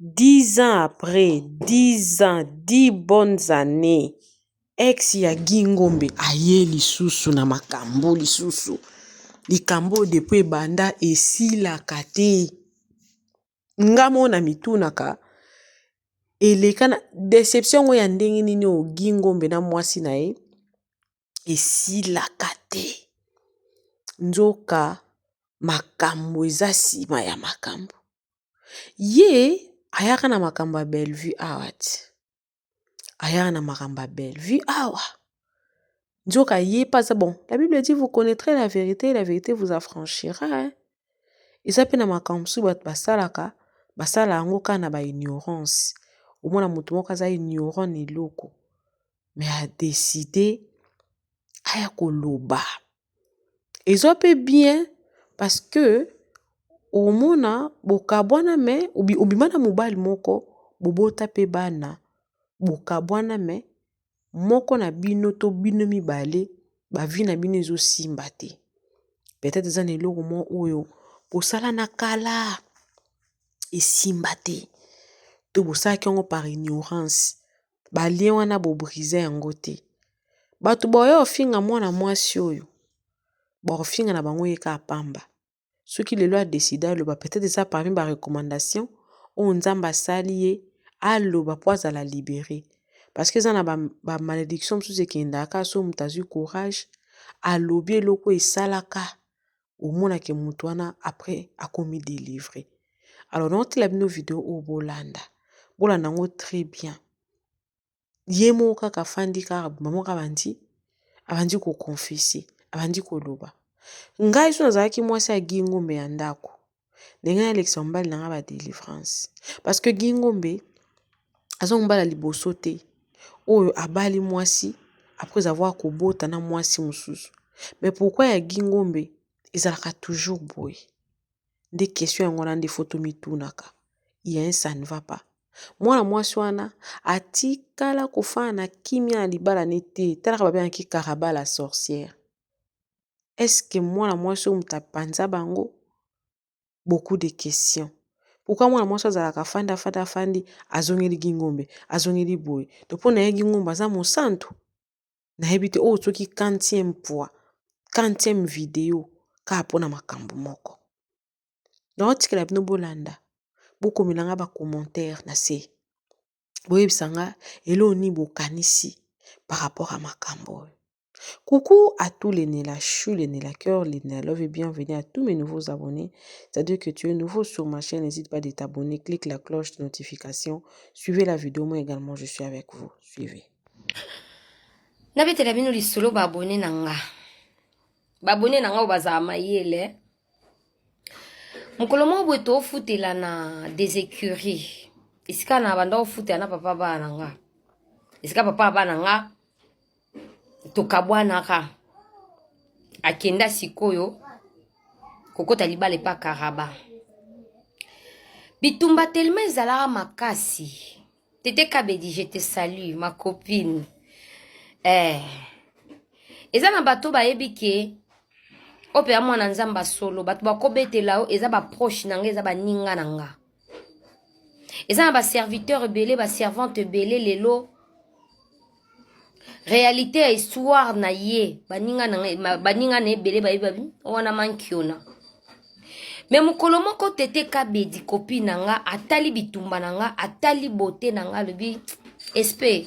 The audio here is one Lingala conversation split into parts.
10 ans après 10 ans 10 bonnes annees ex ya Guy Ngombe aye lisusu na makambu lisusu likambu oyo depuis ebanda esilaka te nga moko na mitunaka eleka deception yango ya ndenge nini oyo Guy Ngombe na mwasi na ye esilaka te nzoka makambu eza sima ya makambu ye ayaka na makambu ya Bellevue awa te ayaka na makambu ya Bellevue awa nzoka ye pe aza bon la bible dit vous connaitrez la verite et la verite vous affranchira hein eza pe na makambu mosusu batu basalaka basala yango kaka na ba ignorance omona mutu moko aza ignorant na eloko me a decide aya koloba eza pe bien parce que omona bokabwana me obima na mobali moko bobota pe bana bokabwana me moko na bino to bino mibale ba vie na bino ezosimba te peut-etre eza na eloko moko oyo bosala na kala esimba te to bosalaki yango par ignorance. ba liens wana bo briser yango te batu baoya kofinga mwana mwasi oyo bakofinga na bango ye kaka pamba soki lelo a decide aloba peut etre eza parmi ba recommandation oyo nzambe asali ye aloba po azala libere parce que eza na ba malediction mosusu ekendaka soki mutu azwi courage alobi eloko esalaka omona ke mutu wana après akomi delivre alors naotila bino video oyo bolanda bolanda yango très bien ye moko kaka afandi kaka bima moko abandi abandi koconfese abandi koloba ngai so nazalaki mwasi ya guy ngombe ya ndako ndenge nalekisa mobali na nga ba delivrance parce que Guy Ngombe aza mobali ya liboso te oyo abali mwasi après avoir kobota na mwasi mosusu mais pourquoi ya Guy Ngombe ezalaka toujours boye nde question yango wana nde faut tomitunaka il y a un ça ne va pas mwana mwasi wana atikala kofana na kimia na libala ne te talaka babengaki caraba la sorcière eske mwana mwasi oyo moto apanza bango beaucoup de question pourkoi mwana mwasi azalaka afandi afandi afandi azongeli gingombe azongeli boye to mpo na ye gingombe aza mosantu nayebi te oyo soki quantième fois quantième video kaka mpo na makambo moko nao tikela bino bolanda bokomela nga ba commentaire na se boyebisa nga eloko nini bokanisi par rapport ya makambo oyo. Coucou à tous les Nella Chou, les Nella Cœur, les Nella Love et bienvenue à tous mes nouveaux abonnés. C'est-à-dire que tu es nouveau sur ma chaîne, n'hésite pas de t'abonner, clique la cloche de notification, suivez la vidéo, moi également je suis avec vous, suivez. nabetela bino lisolo baabone na nga baabone na nga oyo bazala mayele mokolo moko boye toofutela na des écuries esika na banda ofutela na papa bana na nga esika papa bana nga tokabwanaka akenda sikoyo kokota libala epa karaba bitumba telema ezalaka makasi tete kabedi je te salue ma copine eh. eza na bato bayebi ke oyo mpenza mwana nzambe asolo bato bakobetela yo eza baproche na nga eza baninga na nga eza na baserviteur ebele baservante ebele lelo réalité ya histoire na ye baninga na baninga na ebele bayebi wana mankiona me mokolo moko tete kabedi kopi na nga atali bitumba na nga atali bote na nga alobi espe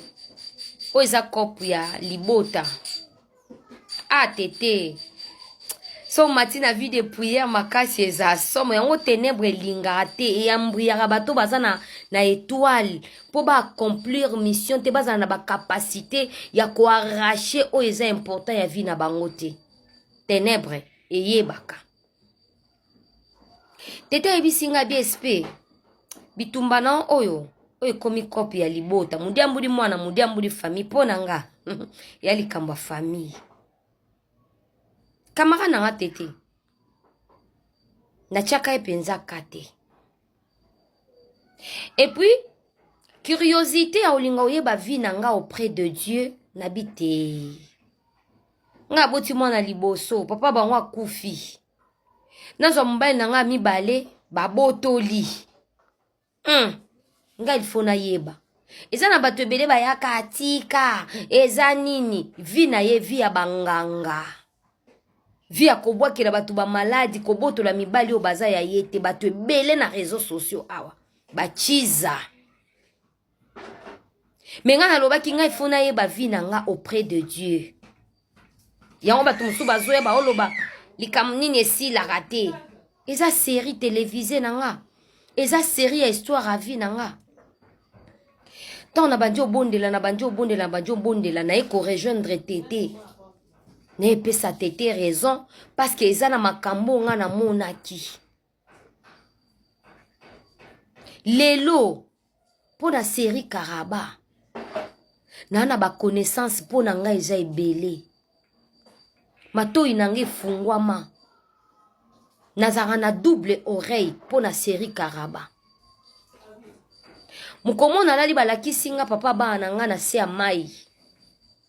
oyo eza cope ya libota ah tete so omati na vie de prière makasi eza somo yango ténèbre elingaka te eyambriyaka bato baza na, na étoile mpo baaccomplir mission te bazala na bacapacité ya koarrache oyo eza important ya vie na bango te ténèbre eyebaka tete oyebisi nga bsp bitumba na oyo oyo ekomi kope ya libota modiambuli mwana modiambuli famille mpo na nga ya likambo ya famille kamara na nga tete natyaka ye mpenza ka te epuis curiosité ya olinga oyeba vie na nga auprès de dieu nabi te ngai aboti mwana liboso papa bango akufi nazwa mobali na ngai mibale babotoli hmm. ngai lifo nayeba eza na bato ebele bayaka atika eza nini vi na ye vi ya banganga vi ya kobwakela bato bamaladi kobotola mibali oyo baza ya ye te bato ebele na réseau sociaux awa bachiza me ngai nalobaki ngai fo nayeba vie na nga auprès de dieu yango bato mosusu bazoya baoloba likambo nini esilaka te eza série télévisé na nga eza série ya histoire ya vie na nga ntango nabandi obondela nabandi obondela nabandi obondela naye korejoindre te te nayepesa te te raison parceke eza na makambo ngai namonaki lelo mpo na serie karaba naa na baconnaissance mpo na ngai eza ebele matoi na ngai efungwama nazalaka na double oreille mpo na serie karaba mokomona alali balakisi nga papa bana na ngai na se ya mai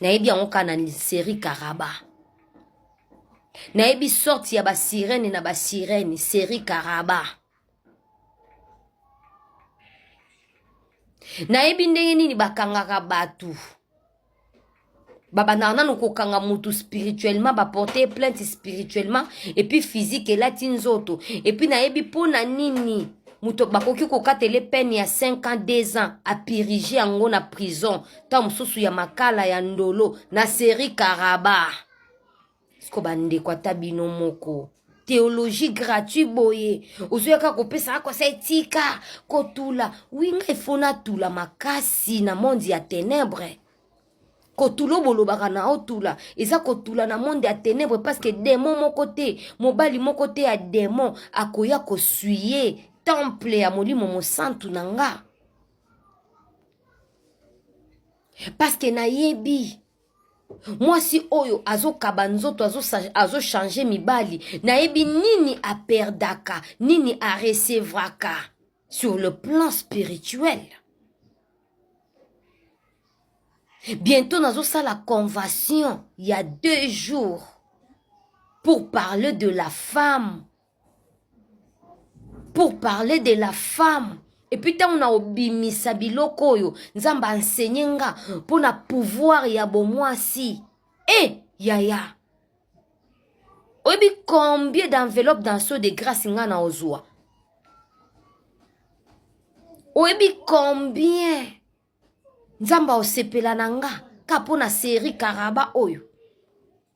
nayebi yango kaka na serie karaba nayebi sorte ya basirene na basirene serie karaba nayebi ndenge nini bakangaka bato babandaka nanu kokanga motu spirituellement baporte plainte spirituellement epuis physique elati nzoto epuis nayebi mpo na nini moto bakoki kokatele pene ya 5 ans 2 ans apirige yango na prison ntango mosusu ya makala ya ndolo na seri karaba siko bandeko ata bino moko théologie gratuit boye ozoyaka kopesa akosa etika kotula winga ifo natula makasi na monde ya ténèbre kotula bolobaka na otula eza kotula na monde ya ténèbre parce que démon moko te mobali moko te ya démon akoya kosuye temple ya molimo mosantu na nga paske nayebi mwasi oyo azokaba nzoto azochange azo mibali nayebi nini aperdaka nini aresevraka sur le plan spirituel bientôt nazosala convention ya deux jours pour parler de la femme pour parler de la femme epuis ntango na obimisa biloko oyo nzambe ansenye nga mpo na pouvoir ya bomwasi e eh, yaya oyebi combien d'enveloppe dans so de grâce nga na ozwa oyebi combien nzambe aosepela na nga ka mpo na seri karaba oyo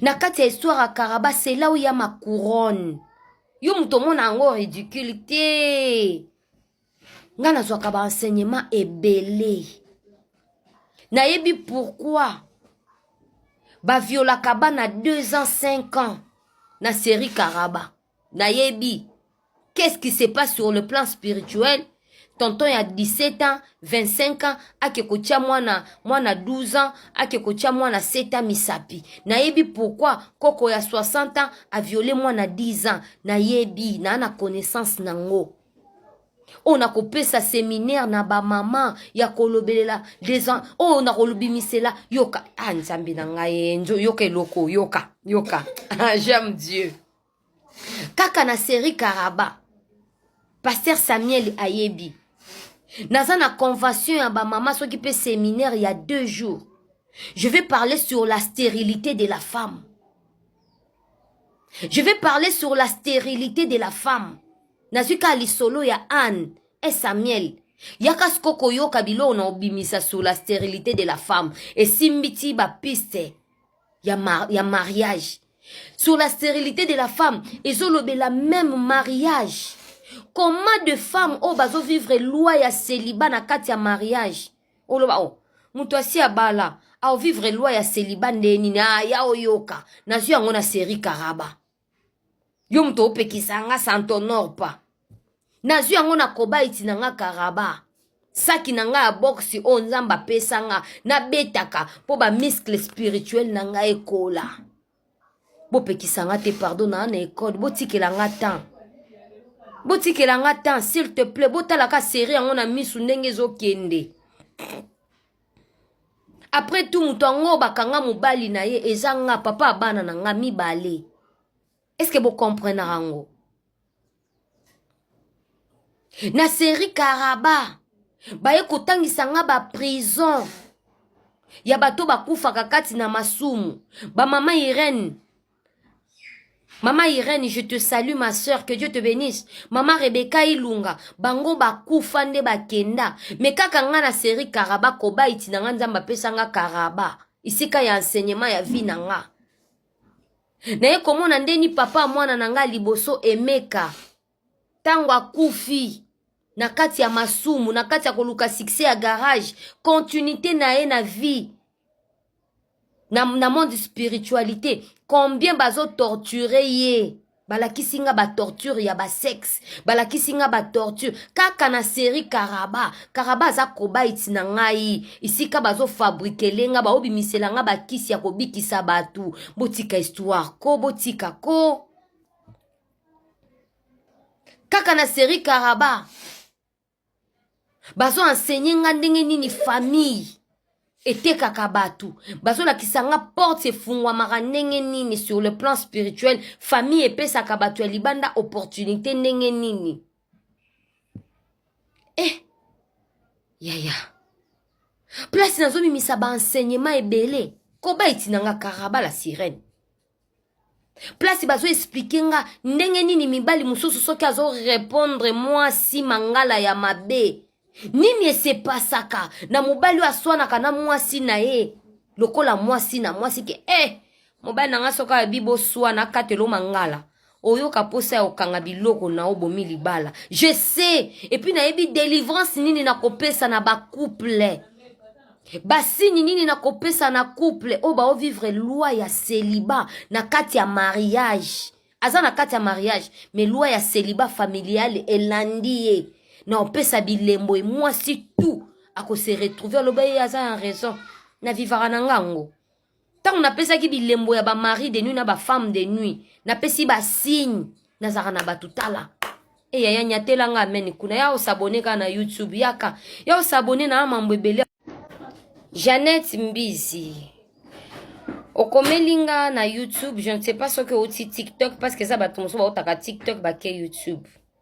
na kati ya histoire ya karaba c'est là où ya ma couronne yo moto omona yango ridicule te ngai nazwaka baenseignement ebele nayebi pourkui baviolaka bana 2 ans 5 ans na série karaba nayebi qu'est-ce qui se passe sur le plan spirituel tonton ya 17 ans 25 ans ake kotya mwana mwana 12 ans ake kotya mwana 7 ans misapi nayebi pourquoi koko ya 60 ans aviole mwana 10 ans nayebi naa na connaissance nango oyo nakopesa seminaire na bamama ya kolobelela desan oyo nakolobimisela yoka ah nzambe na ngai yoka eloko yoka yoka j'aime dieu kaka na serie karaba paster samuel ayebi naza na convention ya bamama soki mpe seminaire ya deux jours je vais parler sur la stérilité de la femme je vais parler sur la stérilité de la femme nazwi kaka lisolo ya anne e samuel yaka siko koyoka biloko na obimisa sur la stérilité de la femme esimbi ti bapiste ya, mar ya mariage sur la stérilité de la femme ezolobela même mariage comment de femme oyo bazovivre loi ya celiba na kati ya mariage oloba o oh, moto asi abala aovivre loi ya celiba nde nini aya ah, oyoka nazwi yango na série karaba yo moto opekisa nga santonor pa nazwi yango na kobaiti na nga karaba saki na nga ya boxe oyo nzambe apesa nga nabetaka mpo bamiskle spirituel na nga ekola bopekisa nga te pardon naa na ekode botikela nga temps botikela nga temps s'il te plaît botalaka serie yango na misu ndenge ezokende après tout moto yango bakanga mobali na ye eza nga papa abana na nga mibale estce bocomprenaka yango na serie karaba baye kotangisa nga baprison ya bato bakufaka kati na masumu bamama irene Mama Irene, je te salue ma soeur, que Dieu te bénisse. Mama Rebecca Ilunga, bango bakufa nde bakenda. Me kaka nga na série Karaba koba iti na nga nzamba pesa nga Karaba. Isika ya enseignement ya vie na nga. Naye komona ndeni papa mwana na nga liboso emeka. Tango akufi na kati ya masumu na kati ya koluka succès ya garage continuité na ye na vie na, na monde spiritualité combien bazo torture ye balakisi nga batorture ya basexe balakisi nga batorture kaka na série karaba karaba aza kobaiti na ngai esika bazofabrikele nga baobimisela nga bakisi ya kobikisa bato botika histoire ko botika ko kaka na serie karaba bazo enseigner nga ndenge nini famille etekaka bato bazolakisa nga porte efungwamaka ndenge nini sur le plan spirituel famille epesaka bato ya libanda opportunité ndenge nini eh yaya place nazomimisa baenseignement ebele koba etinanga karaba la sirene place bazo explike nga ndenge nini mibali mosusu soki azo repondre mwasi mangala ya mabe nini esepasaka na mobali oyo aswanaka na mwasi na ye lokola mwasi na mwasi ke e eh, mobali na nga soki abi boswana akatelo mangala oyoka posa ya kokanga biloko na yo bomi libala je sais epuis nayebi delivrance nini nakopesa na bacouple basini nini nakopesa na couple oyo baovivre loi ya celiba na kati ya mariage aza na kati ya mariage me loi ya celiba familiale elandi ye na opesa bilembo emwasi tout akose retrouve aloba ye aza ya raison na vivaka na ngango ntango napesaki bilembo ya bamari de nuit na bafemme de nuit napesi basigne nazalaka na bato tala eya ya nyatela nga amene kuna ya osabone kaka na youtube yaka ya osabone na mambo ebele janete mbizi okomeli nga na youtube je ne sais pas soki outi tiktok parce que eza bato mosusu baotaka tiktok bake youtube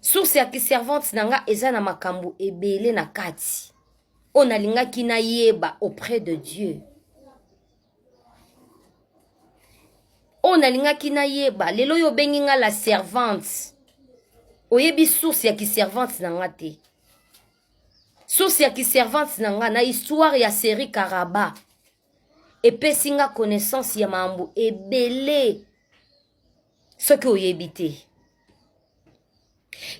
source ya kiservante na nga eza na makambo ebele na kati oyo nalingaki nayeba auprès de dieu oyo nalingaki nayeba lelo oyo obengi nga la servante oyebi source ya kiservante na nga te source ya kiservante na nga na histoire ya série karaba epesi nga connaissance ya mambo ebele soki oyebi te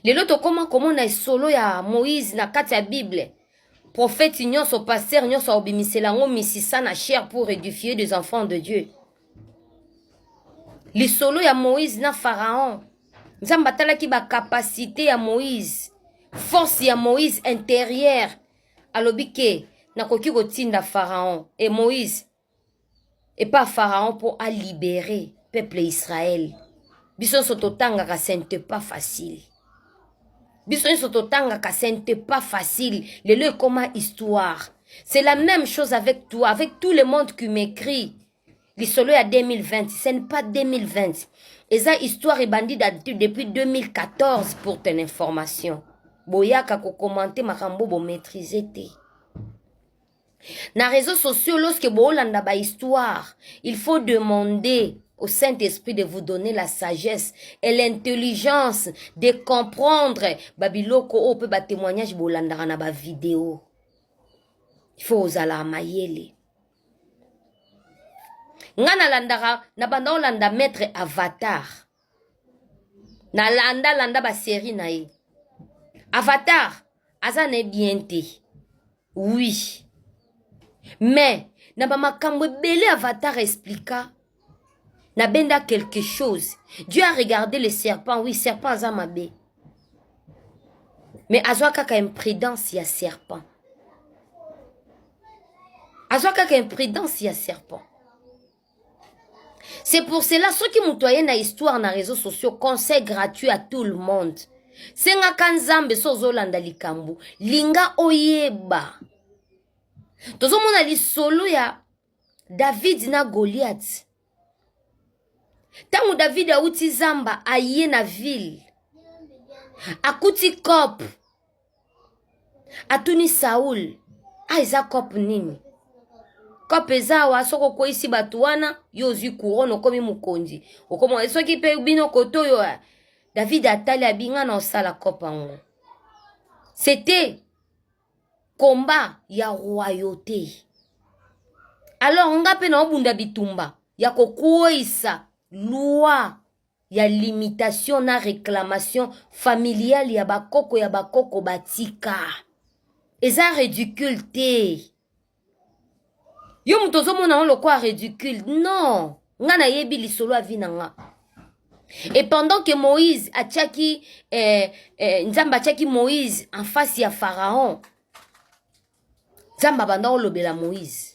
lelo tokoma komona esolo ya moïse na kati ya bible prophète nyonso pasteur nyonso aobimisela yango misisa na chair pour édifier des enfants de dieu lisolo ya moïse na pharaon nzambe atalaki bacapacité ya moïse force ya moïse intérieure alobi ke nakoki kotinda pharaon e moïse epa pharaon mpo alibere peuple israel biso nyonso totangaka ce n'était pas facile biso nyonso totangaka ce n'était pas facile lelo ekoma histoire c'est la même chose avec toi avec tout le monde qui m'écrit lisolo ya 2020 ce n'est pas 2020 eza histoire ebandi depuis 2014 pour ton information boyaka kokomante makambo bomaîtrise te na réseau sociaux lorsque boolanda ba histoire il faut demander au Saint-Esprit de vous donner la sagesse et l'intelligence de comprendre babiloko oyo mpe batémoignage bolandaka na bavideo il faut ozala mayele nga nalandaka na banda olanda maître avatar na landa landa ba série na ye avatar aza na ye bien te oui mais na bamakambo ebele avatar explika nabenda quelque chose dieu a regardé le serpent oui serpent aza mabe mais azwa kaka imprudence ya serpent azwa kaka imprudence ya serpent C'est pour cela soki moto aye na histoire na réseaux sociaux conseil gratuit à tout le monde sengaka nzambe so ozolanda likambo linga oyeba tozomona lisolo ya david na goliath ntango david awuti zamba aye na ville akuti cope atuni saul a ah, eza cope nini cope eza awa soki okweisi bato wana yo ozwi couronne okomi mokonzi okomi soki mpe bino kote oyo eh, david atali abinga na osala cope yango c'était combat ya royauté alors nga mpe naobunda bitumba ya kokweisa loi ya limitation na reclamation familiale ya ba koko ya ba koko batika eza ridicule te yo moto ozomona yango lokola ridicule non nga nayebi lisolo ya vi na nga et pendant que moïse atiaki eh, eh, nzambe atiaki moïse en face ya pharaon nzambe abanda olobela moïse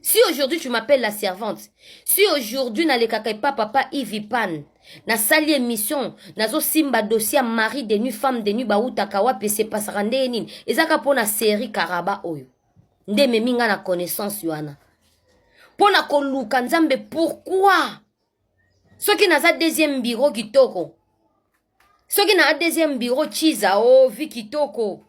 si aujourd'hui tu m'appelles la servante si aujourd'hui nalekaka epa papa ivipan nasali émission nazosimba dossier ya marie de nuit femme de nuit bautaka wapi esepasaka ndeye nini ezaka mpo na série karaba oyo nde ememi ngai na connaissance wana mpo na koluka nzambe pourkui soki naza deuxième biro kitoko soki na deuxième bureau chiza o oh, vi kitoko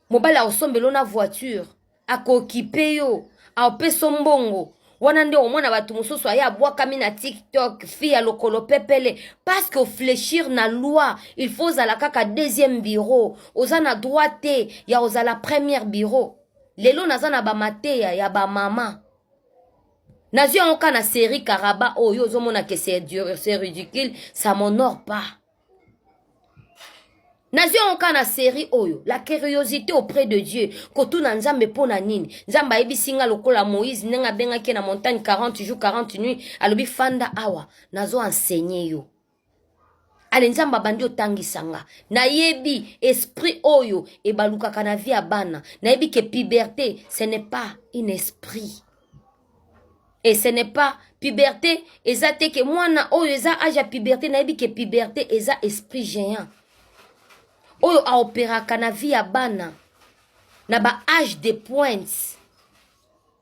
mobali akosombela na voiture akokipe yo aopeso mbongo wana nde omona bato mosusu aye abwakami na tiktok fi ya lokolo pepele parce que oflechir na loi il faut ozala kaka deuxième bureau oza na droit te ya kozala première bureau lelo naza na bamateya ya bamama nazwi yango kaka na serie karaba oyo oh, ozomona ke c'est ridicule ça m'honore pas nazwi yango kaka na serie oyo la curiosité auprès de dieu kotuna nzambe mpo na nini nzambe ayebisi nga lokola moïse ndenge abengaki na montagne 40 jours 40 nuit alobi fanda awa nazo enseigner yo ale nzambe abandi otangisa nga nayebi esprit oyo ebalukaka na vie ya bana nayebi ke puberté ce n'est pas un esprit et ce n'est pas puberté eza te ke mwana oyo eza age ya puberté nayebi ke puberté eza esprit géant oyo aoperaka na vie ya bana na ba age de pointe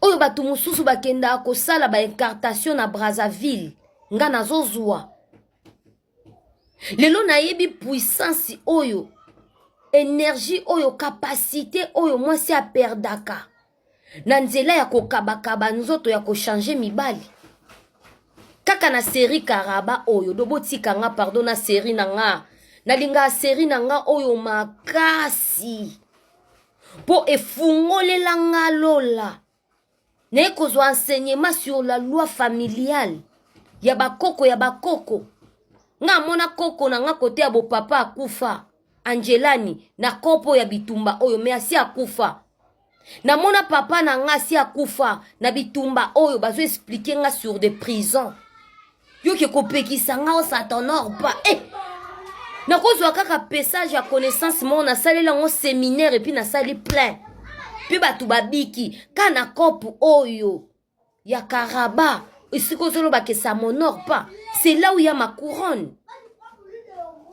oyo bato mosusu bakendaka kosala baincartation na brazzaville nga nazozwa lelo nayebi puissance oyo energie oyo kapasite oyo mwasi aperdaka na nzela ya kokabakaba nzoto ya kochange mibali kaka na seri karaba oyo dobotika nga pardon na seri na nga nalingaka seri na nga oyo makasi mpo efungolela nga lola naye kozwa enseignement sur la loi familiale ya bakoko ya bakoko nga amona koko na nga kote ya bopapa akufa angelani na kopo ya bitumba oyo me asi akufa namona papa na nga asi akufa na bitumba oyo bazo explike nga sur de prison Yo ke kopekisa nga o ça t'honore pas. Eh! Nakozwa kaka pesage ya connaissance moko nasali yango seminaire epuis nasali plein. Mpe bato babiki ka na cope oyo ya karaba esika ozoloba ke ça m'honore pas. C'est là où il y a ma couronne.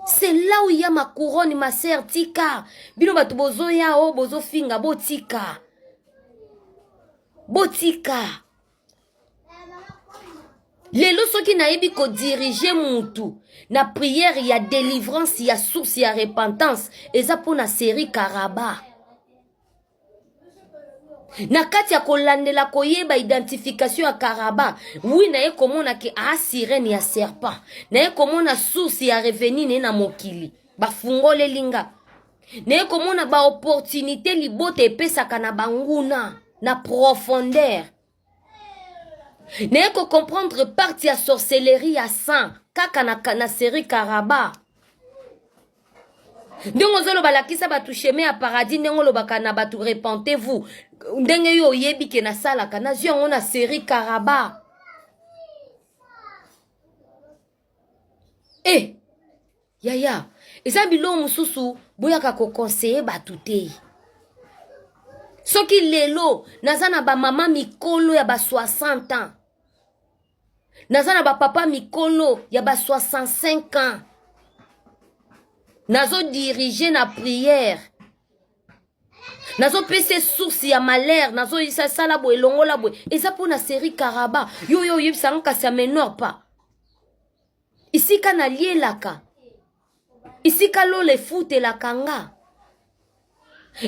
c'est là où il y a ma couronne ma sœur tika bino bato bozoya o oh, bozofinga botika botika lelo soki nayebi kodirige mutu na priere ya delivrance ya source ya repentance eza mpo na seri karaba na kati ya kolandela koyeba identification ya karaba wi naye komona ke a sirene ya serpent naye komona source ya reveni ne na mokili bafungoleli nga naye komona ba opportunité libota epesaka na banguna na profondeur naye kocomprendre parti ya sorcellerie ya sang kaka na, na serie karaba ndenge ozoloba lakisa bato chemin ya paradis ndenge olobaka na bato repentez vous ndenge yo oyebi ke nasalaka nazwi yango na serie karaba e eh, yaya eza biloko mosusu boyaka kokonseye bato te soki lelo naza na bamama mikolo ya ba 60 ans naza na bapapa mikolo ya ba 65 ans nazodirige na priere nazopesa ye source ya malheur nazoyisa sala boye longola boye eza mpo na série karaba yo yo oyebisa nga kasi ya menor pas esika nalielaka esika lola efutelaka nga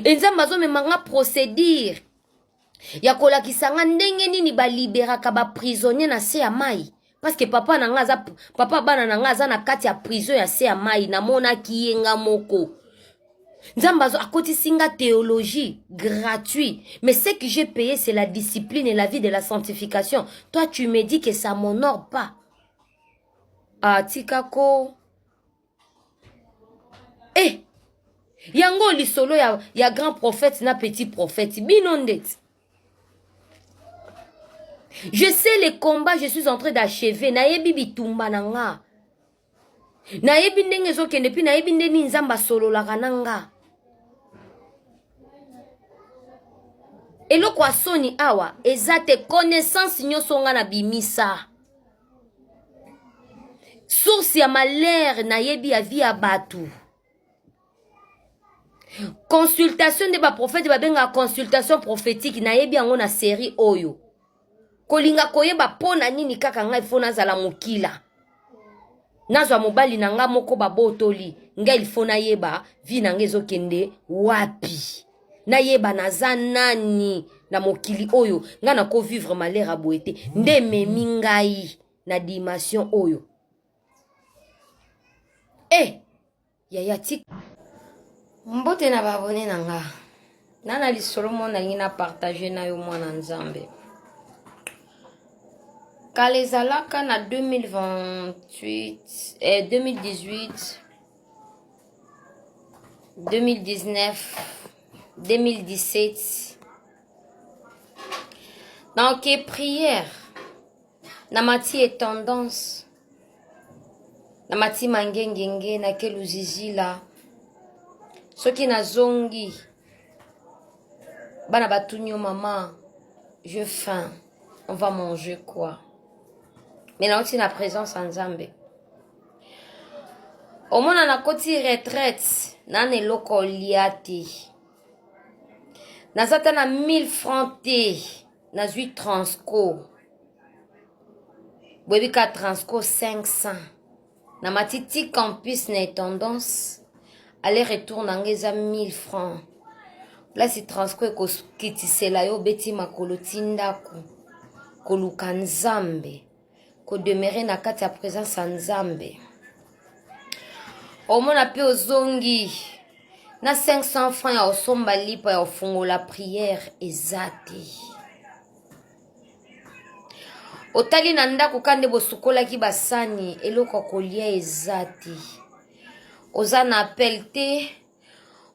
enzambe azomema nga procédure ya kolakisa nga ndenge nini baliberaka baprisonnier na se ya mai parceke papa na nga aza papa bana na nga aza na kati ya prison ya se ya mai namonaki ye nga moko nzambe azo akotisi nga théologie gratuit mais ce que j'ai payé c'est la discipline et la vie de la sanctification toi tu me dis que ça m'honore pas ah tika ko eh yango lisolo ya, ya grand prophète na petit prophète bino ndeti je sais les combats je suis en train d'achever nayebi bitumba na nga nayebi ndenge ezokende mpe nayebi nde nini nzambe asololaka na nga eloko ya soni awa eza te connaissance nyonso nga na bimisa source ya malheur nayebi ya vie ya bato consultation nde baprofete babengaka consultation prophétique nayebi yango na série oyo kolinga koyeba mpo na nini kaka ngai mpo nazala mokila nazwa mobali na nga moko babotoli nga ilfo nayeba vi na nga ezokende wapi nayeba naza nani na mokili oyo nga nakovivre malere ya boye te nde ememi ngai na dimension oyo e eh! hey! Yaya tik. Mbote na ba abonne na nga. Nana lisolo mo nalingi na partager na yo mwana Nzambe. Kala ezalaka na 2028 eh, 2018 2019 2017 donc prière na mati ye tendance na mati mangengenge na ke luzizila soki nazongi bana batuni yo mama je faim on va manger quoi mais nauti na présence ya nzambe omona nakoti retraite nana eloko olia te naza ata na 1000 franc te nazwi transco boyebi ka transco 500 na matiti campus na etendance aller retour na nga eza 1000 francs place transco ekokitisela yo obeti makolo ti ndako koluka nzambe ko demeurer na kati ya presence ya Nzambe omona mpe ozongi na 500 francs ya osomba lipa ya ofungola priere eza te otali na ndako ka nde bosukolaki basani eloko ya kolia eza te oza na appel te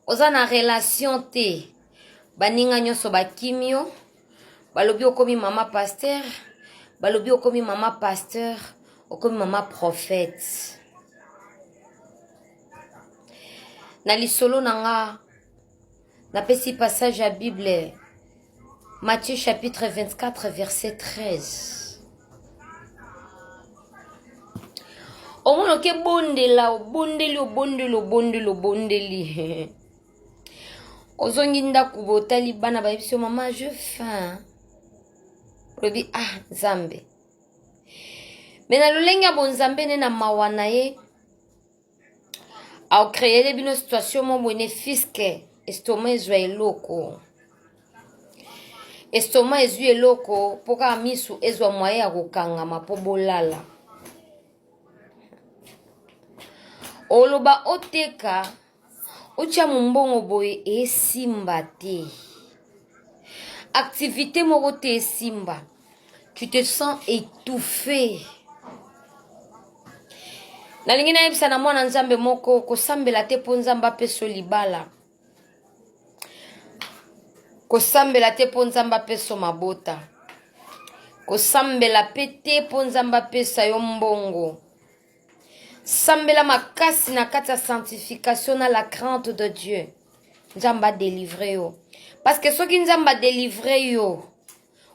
oza na relation te baninga nyonso bakimi yo balobi okomi mama pasteur balobi okomi mama pasteur okomi mama prophète na lisolo na nga napesi passage ya bible matthieu chapitre 24 verset 13 omona oke bondela obondeli obondeli obondeli obondeli ozongi ndako botali bana bayebi so mama je fin olobi ah nzambe me na lolenge ya bonzambe nde na mawa na ye aokreele bino situation mo boye ne fiske estoma ezwa eloko estoma ezwi eloko mpo kaka misu ezwa mwaye ya kokangama mpo bolala oloba oteka otya mombongo boye esimba te activité moko te esimba tu te sens étouffé nalingi nayebisa na mwana nzambe moko kosambela te mpo nzambe apeso libala kosambela te mpo nzambe apeso mabota kosambela mpe te mpo nzambe apesa yo mbongo sambela makasi na kati ya sanctification na la crainte de dieu nzambe adelivre yo parceke soki nzambe adelivre yo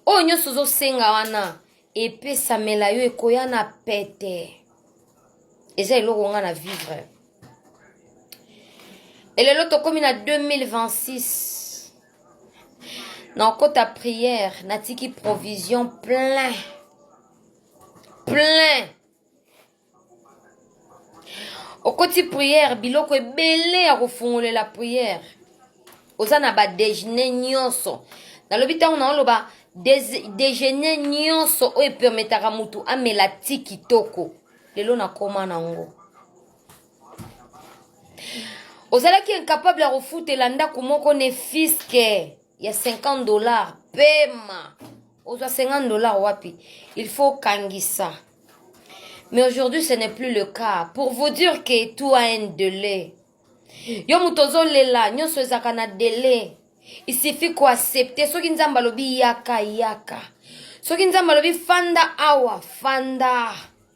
oyo nyonso ozosenga wana epesamela yo ekoya na pete eza eloko nga na vivre elelo tokomi na 2026 nakota priere natiki provision plein plein okoti priere biloko ebele ya kofungolela priere oza na badejeuner nyonso nalobi ntango naoloba dejeuner nyonso oyo epermetaka motu amela ti kitoko lelo nakoma nango ozalaki incapable ya kofutela ndako moko ne fiske ya 50 dollars pema ozwa 50 dollars wapi il faut kangisa mais aujourd'hui ce n'est plus le cas pour vous dire que tu as un délai yo moto ozolela nyonso ezalaka na délai il suffit koaccepte soki nzambe alobi yaka yaka soki nzambe alobi fanda awa fanda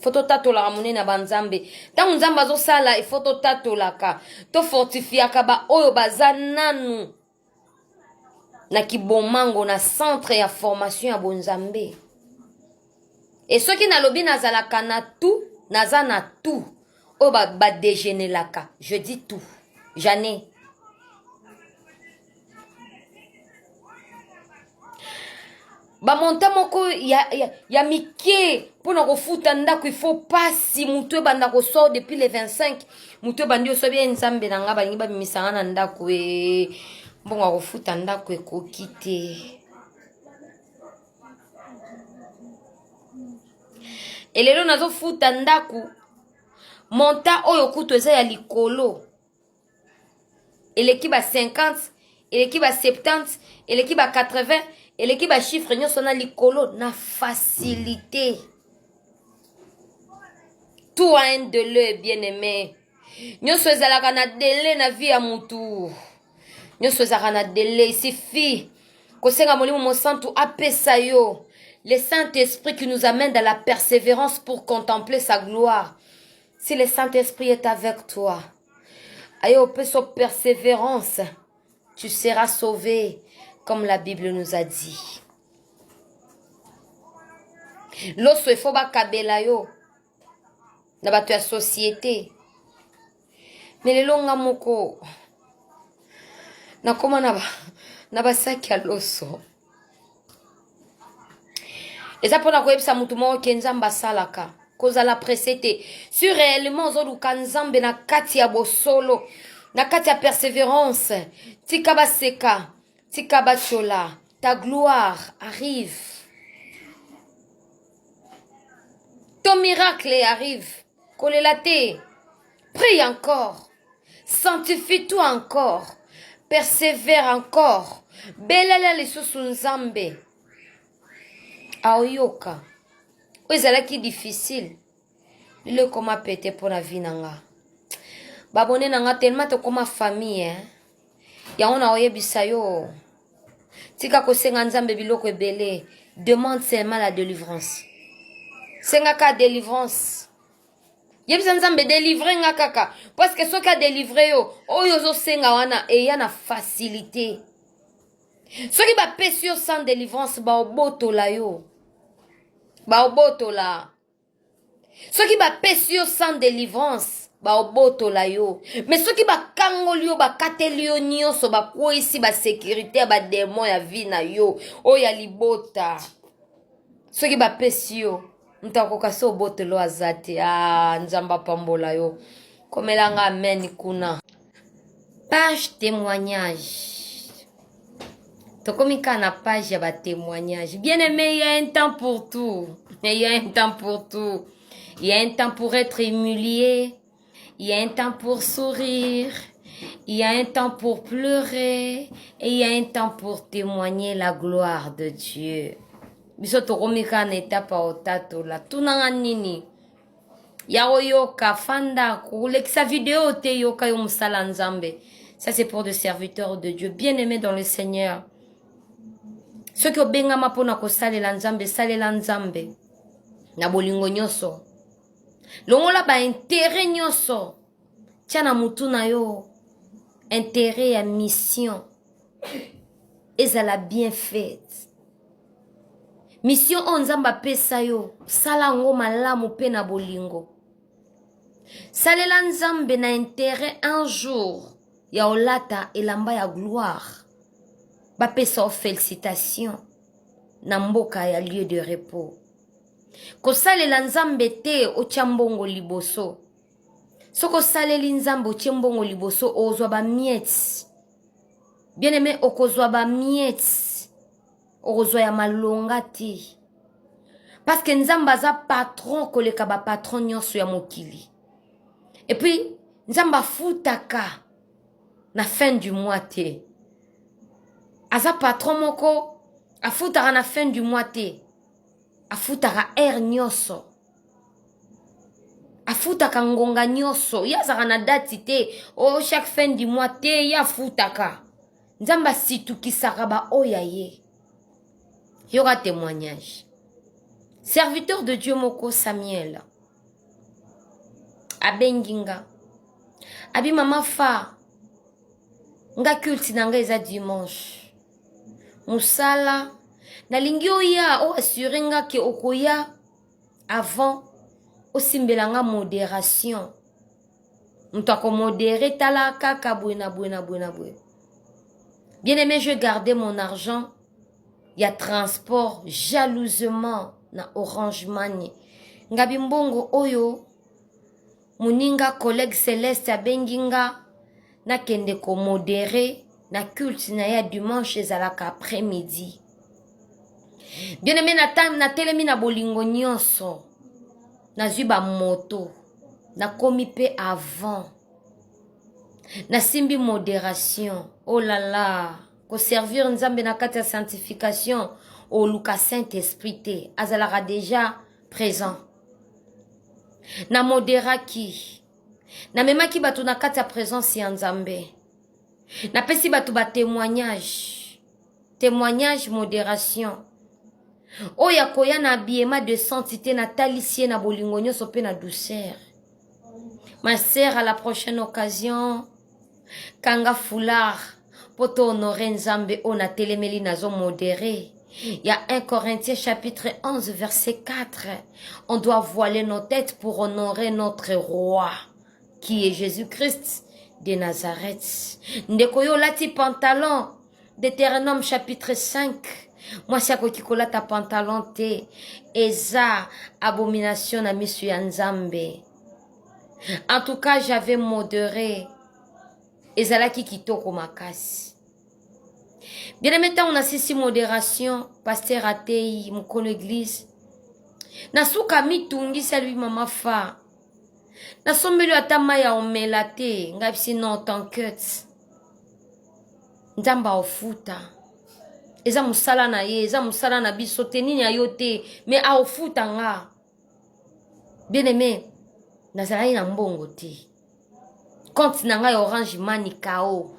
fo totatolaka monene ya banzambe ntango nzambe azosala ifo totatolaka tofortifiaka baoyo baza nanu na kibomango na centre ya formation ya bonzambe e soki nalobi nazalaka na tout naza na tout oyo badegenelaka ba je dis tout janai bamonta moko ya, ya, ya mike mpo na kofuta ndako ifo mpasi motu ebanda kosor depuis le 25 motu ebandi osobi ye nzambe na ngai balingi babimisa ngai na ndako e mbongo ya kofuta ndako ekoki te elelo nazofuta ndako monta oyo kutu eza ya likolo eleki ba 50 eleki ba 70 eleki ba 80 eleki ba chiffre nyonso na likolo na facilité tout a un dele bien aimé nyonso ezalaka na dele na vie ya mutu nyonso ezalaka na dele isifi kosenga molimo mosantu apesa yo le saint esprit qui nous amène dans la persévérance pour contempler sa gloire Si le Saint-Esprit est avec toi, aye opesa persévérance, tu seras sauvé, comme la Bible nous a dit. Loso efo bakabela yo na bato ya société. Mais lelo nga moko nakoma na ba na basaki ya loso. eza mpo na koyebisa motu moko ke nzambe asalaka kozala presse te si réellement ozoluka nzambe na kati ya bosolo na kati ya persévérance tika baseka tika batyola ta gloire arrive ton miracle arrive kolela te prie encore Sanctifie toi encore. Persevere encore. Belela lisusu Nzambe. Aoyoka. Oyo ezalaki difficile. Lelo ekoma pete mpo na vie na nga. Babone na nga tellement tokoma famille. Eh? Yango na oyebisa yo. Tika kosenga Nzambe biloko ebele. Demande seulement la délivrance. Senga ka délivrance. yebisa nzambe delivre nga kaka parceke soki adelivre yo oyo ozosenga wana eya na facilité soki bapesi yo sans delivrance baobotola yo baobotola soki bapesi yo sans delivrance baobotola yo me soki bakangoli yo bakateli yo nyonso bakweisi basekurité ya bademo ya vi na yo oyo ya libota soki bapesi yo moto akoka se obotelo aza te ah, nzambe apambola yo komela nga amen kuna page témoignage tokomi kaka na page ya batémoignage bien aimé ya un temps pour tout ya un temps pour tout ya un temps pour être humilié Il y a un temps pour sourire, il y a un temps pour pleurer, et il y a un temps pour témoigner la gloire de Dieu. biso tokomi kaka na etape ya otatola tunanga nini ya koyoka fanda kolekisa video te yoka yo mosala nzambe ça c'est pour de serviteurs de dieu bien aimé dans le seigneur soki obengama mpo na kosalela nzambe salela nzambe na bolingo nyonso longola ba intere nyonso tya na motu na yo intere ya mission ezala bien faite mission oyo nzambe apesa yo sala yango malamu mpe na bolingo salela nzambe na intere un jour ya olata elamba ya gloire bapesa yo felicitation na mboka ya lieu de repos kosalela nzambe te otya mbongo liboso soki osaleli nzambe otye mbongo liboso ozwa bamiete bien aime okozwa bamiete okozwa ya malonga te parceke nzambe aza patron koleka bapatron nyonso ya mokili epuis nzambe afutaka na fin du mois te aza patron moko afutaka na fin du mois te afutaka heure nyonso afutaka ngonga nyonso ye azalaka na dati te o oh, chaque fin du mois te ye afutaka nzambe asitukisaka baoyo ya ye yoka témoignage serviteur de dieu moko samuel abengi nga abi mama fa nga culte na nga eza dimanche musala nalingi oya o assure nga ke okoya avant osimbela nga moderation moto akomodere tala kaka boye na boye na boye na boye bien aimé je garde mon argent ya transport jalousement na orange mani ngabi mbongo oyo Muninga collègue Celeste abengi nga nakende ko moderer na culte na ya dimanche ezalaka après midi. Bien aimé na time natelemi na bolingo nyonso nazwi ba moto nakomi pe avant nasimbi moderation oh la la koservir nzambe na kati ya sanctification oluka saint esprit te azalaka deja présent na moderaki namemaki bato na kati ya presence ya nzambe napesi bato batémoignage témoignage modération oyo akoya na abiyema de santite natalisi ye na bolingo nyonso mpe na douceur Ma sœur, à la prochaine occasion, kanga foulard mpo to honore nzambe oyo natelemeli nazo modere Il y a 1 Corinthiens chapitre 11 verset 4. On doit voiler nos têtes pour honorer notre roi qui est Jésus-Christ de Nazareth. Ndeko yo lati pantalon Deuteronome chapitre 5 mwasi akoki kolata pantalon te eza abomination na misu ya nzambe en tout cas j'avais modere ezalaki kitoko makasi bien-aime ntango nasisi moderation paster ateyi mokolo eglise na suka mitungisi alobi mama fa nasombeli yo ata mai ya omela te ngai bisi non tankete nzambe aofuta eza mosala na ye eza mosala na biso te nini ya yo te me aofuta nga bien aime nazalaki na mbongo te compte na ngai ya orange mani kao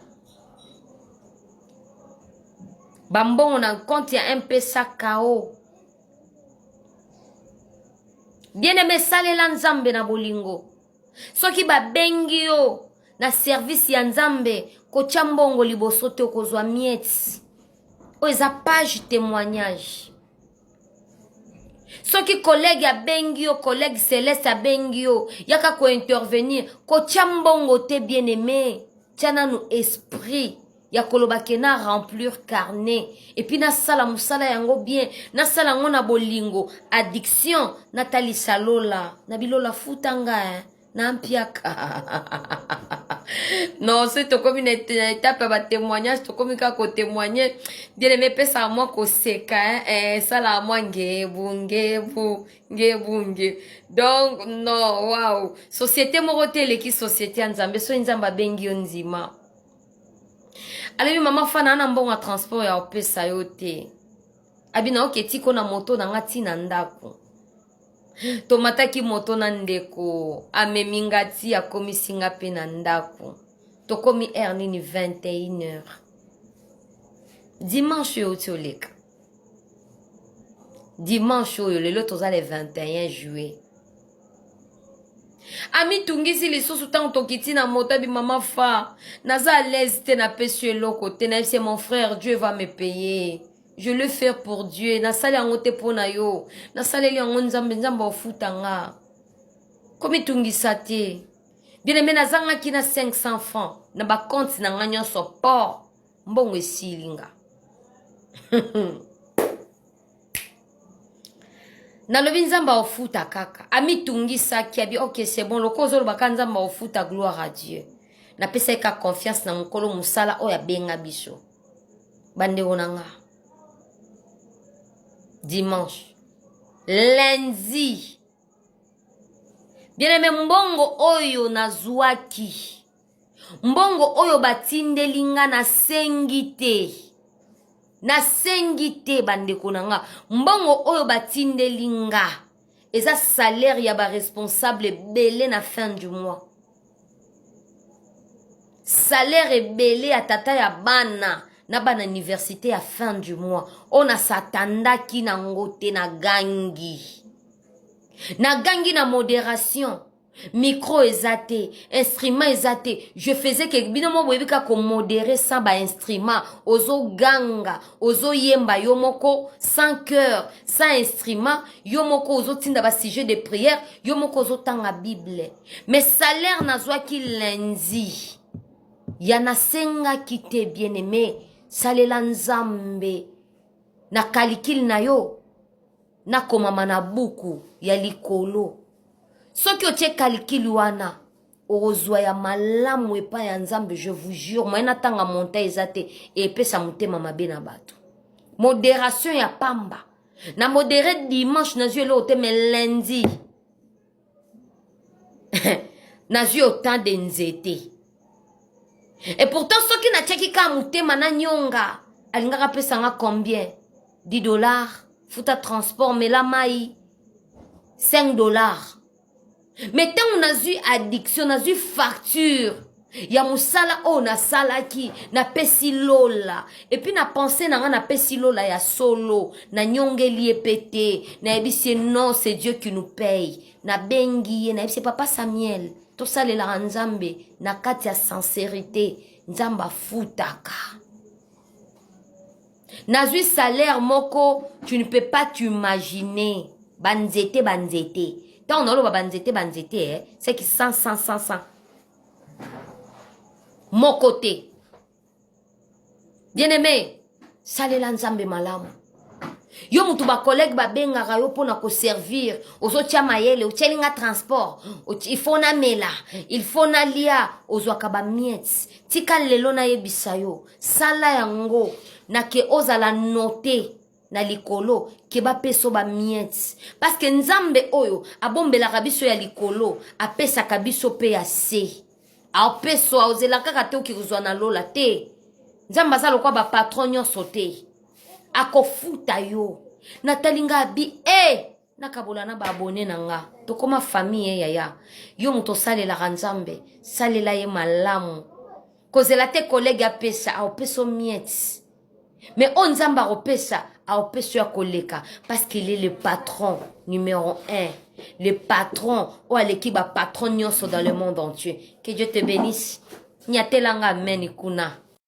bambongo na compte ya mpesa kao bien aime esalela nzambe na bolingo soki babengi yo na service ya nzambe kotya mbongo liboso te okozwa mieti oyo eza page témoignage soki kolege abengi yo kolege celeste abengi yo yaka kointervenir kotya mbongo te bien aime tya nanu esprit ya koloba ke na remplir carnet epuis nasala mosala yango bien nasala yango na bolingo addiction natalisa lola na bilola futa nga eh? na mpiaka non soki tokomi na etape ya batémoignage tokomi kaka kotémoigne bieleme epesaka mwa koseka eh, esalaka mwa ngebu ngebu ngebu nge donc non waw société moko te eleki société ya nzambe soki nzambe abengi yo ndima alobi mama fana ana mbongo ya transport ya opesa yo te abi nayoki etiko na moto na nga ti na ndako tomataki moto na ndeko amemi nga ti akomisi nga mpe na ndako tokomi heure nini 21 heure dimanche oyo ti oleka dimanche oyo lelo toza le 21 juillet amitungisi lisusu ntango tokiti na moto abi mama fa naza alaise te napesi yo eloko te nayebi se mon frère dieu va me payer je le faire pour dieu nasali yango te mpo na yo nasaleli yango nzambe nzambe ofuta nga komitungisa te bien aime nazangaki na 500 francs na bakonte na nga nyonso po mbongo esili nga nalobi nzambe aofuta kaka amitungisaki abi ok c'est bon lokola ozoloba kaka nzambe aofuta gloire à dieu napesaki kaka confiance na mokolo mosala oyo abenga biso bandeko na nga dimanche lundi bien aime mbongo oyo nazwaki mbongo oyo batindeli nga nasengi te nasengi te bandeko na nga mbongo oyo batindeli nga eza salaire ya baresponsable ebele na fin du mois salaire ebele ya tata ya bana na bana université ya fin du mois oyo nasatandaki nango te nagangi nagangi na moderation micro eza te instrument eza te je faisais ke bino moko boyebi kaka komodere sans bainstrument ozoganga ozoyemba yo moko sans cœur sans instrument yo moko ozotinda basujet de prière yo moko ozotanga bible mais salaire nazwaki lundi ya nasengaki te bien aimé salela nzambe na kalikile na yo nakomama na buku ya likolo soki otie calcul wana okozwa ya malamu epai ya nzambe je vous jure moye natanga monta eza te epesa motema mabe na bato moderation ya pamba na modere dimanche nazwi eloko te me lundi nazwi otemp de nzete e pourtant soki natiaki kaka motema na nyonga alingaka apesanga combien 10 dollars futa transport mela mai 5 dollars me ntango nazwi addiction nazwi facture ya mosala oyo nasalaki napesi lola epuis na pense na ngai napesi lola ya solo nanyongeli ye mpe te nayebisi ye non c'est dieu qui nous paye nabengi ye nayebisi ye papa samuel tosalelaka nzambe na kati ya sincerité nzambe afutaka nazwi salaire moko tu ne peux pas t'imaginer banzete banzete ntango naoloba banzete banzete eh, seki 100 100 100 100 moko te bien aimé salela nzambe malamu yo motu bacollègue babengaka yo mpo na koservir ozotya mayele otyeli nga transport il faut namela il faut nalia ozwaka bamiete tika lelo nayebisa yo sala yango na ke ozala note na likolo ke bapesa ba miete parce que nzambe oyo abombelaka biso ya likolo apesaka biso mpe ya se apeso aozela kaka te oki kozwa na lola te nzambe aza lokwa bapatron nyonso te akofuta yo natali nga abi e eh! hey! nakabola na baabone na nga tokoma famille eh, yaya yo moto osalelaka nzambe salela ye malamu kozela te kolege apesa aopesa miete mais oyo nzambe akopesa aopesa yo ya koleka parce qu'il est le patron numéro 1 le patron oyo aleki bapatron nyonso dans le monde entier que dieu te bénisse nyatelanga ameni kuna